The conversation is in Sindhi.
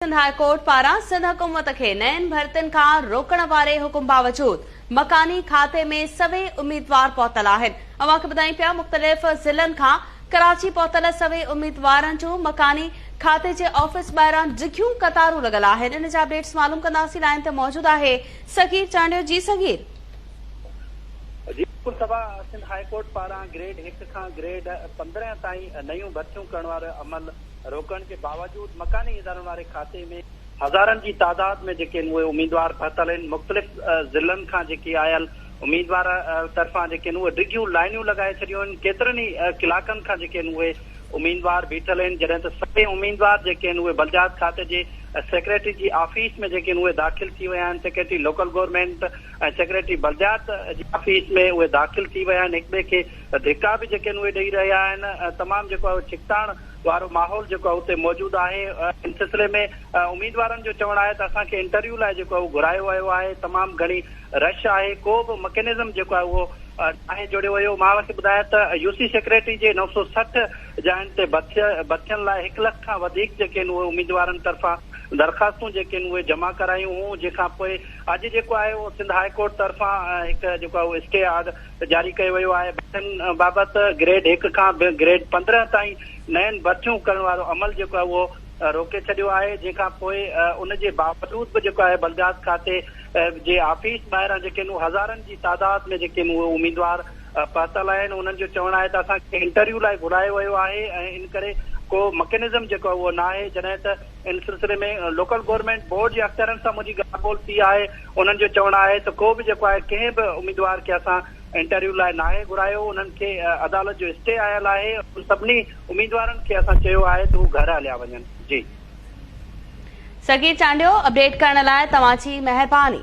سنڌ هاء ڪورٽ پاران سنڌ حڪومت کي نين ڀرتين کان روڪڻ واري حڪم باوجود مڪاني کاتي ۾ سوين اميدوار پهتل آهن اوهان کي ٻڌايون پيا مختلف ضلعن کان ڪراچي پهتل سوين اميدوارن جون مڪاني کاتي جي آفيس ٻاهران ڊگهيون قطارون لڳل آهن ان جا اپڊيٽس معلوم ڪنداسين لائين تي موجود آهي صغير چانڊيو جي صغير جي بلڪل صبا سنڌ هاء ڪورٽ پاران گريڊ هڪ کان گريڊ پندرهن تائين نيون ڀرتيون ڪرڻ وارو عمل روڪڻ جي باوجود مڪاني ادارن واري کاتي ۾ هزارن جي تعداد ۾ جيڪي اهي اميدوار پهتل آهن مختلف ضلعن کان جيڪي آيل اميدوار طرفان جيڪي اهي ڊگهيون لائنيون لڳائي ڇڏيون آهن ڪيترن ئي ڪلاڪن کان جيڪي اهي اميدوار بيٺل آهن جڏهن ته سڀئي اميدوار جيڪي اهي بلديات کاتي جي سيڪريٽري جي آفيس ۾ جيڪي اهي داخل ٿي ويا آهن سيڪريٽري لوڪل گورنمينٽ ۽ سيڪريٽري بلديات جي آفيس ۾ اهي داخل ٿي ويا آهن هڪٻئي کي ڌڪا به جيڪي اهي ڏئي رهيا آهن تمام جيڪو ڇڪتاڻ وارو ماحول جيڪو آهي اتي موجود آهي ان سلسلي ۾ اميدوارن جو چوڻ آهي ته اسان کي انٽرويو لاء جيڪو آهي اهو گهرايو ويو آهي تمام گهڻي رش آهي ڪو به مڪينزم جيڪو آهي اهو ناهي جوڙيو ويو مان اوهان کي ٻڌايان ته يو سي سيڪريٽري جي نو سؤ سٺ جاين تي ڀرتين لاء هڪ لک کان وڌيڪ جيڪي آهن اهي اميدوارن طرفان درخواستون جيڪي آهن اهي جمع ڪرايون هيون جنهن کان پوء اڄ جيڪو آهي اهو سنڌ هاء ڪورٽ طرفان هڪ جيڪو آهي اهو اسٽي آرڊر جاري ڪيو ويو آهي، برٿن بابت گريڊ هڪ کان به گريڊ پندرهن تائين نين برٿيون ڪرڻ وارو عمل جيڪو آهي اهو روڪي ڇڏيو آهي، جنهن کان پوء ان جي باوجود به جيڪو آهي بلديات کاتي جي آفيس ٻاهران جيڪي آهن هزارن جي تعداد ۾ جيڪي آهن اهي اميدوار پهتل آهن، انهن جو چوڻ آهي ته اسان کي انٽرويو لاء گهرايو ويو آهي ۽ ان ڪري ڪو مڪينزم جيڪو آهي اهو ناهي، جڏهن ته. ان سلسلي ۾ لوڪل گورنمينٽ بورڊ جي اختيارين سان منهنجي ڳالهه ٻولهه ٿي آهي، انهن جو چوڻ آهي ته ڪو به جيڪو آهي ڪنهن به اميدوار کي اسان انٽرويو لاء ناهي گهرايو، انهن کي عدالت جو اسٽي آيل آهي، انهن سڀني اميدوارن کي اسان چيو آهي ته هو گهر هليا وڃن. جي. سڳي چانڊيو اپڊيٽ ڪرڻ لاء توهان جي مهرباني.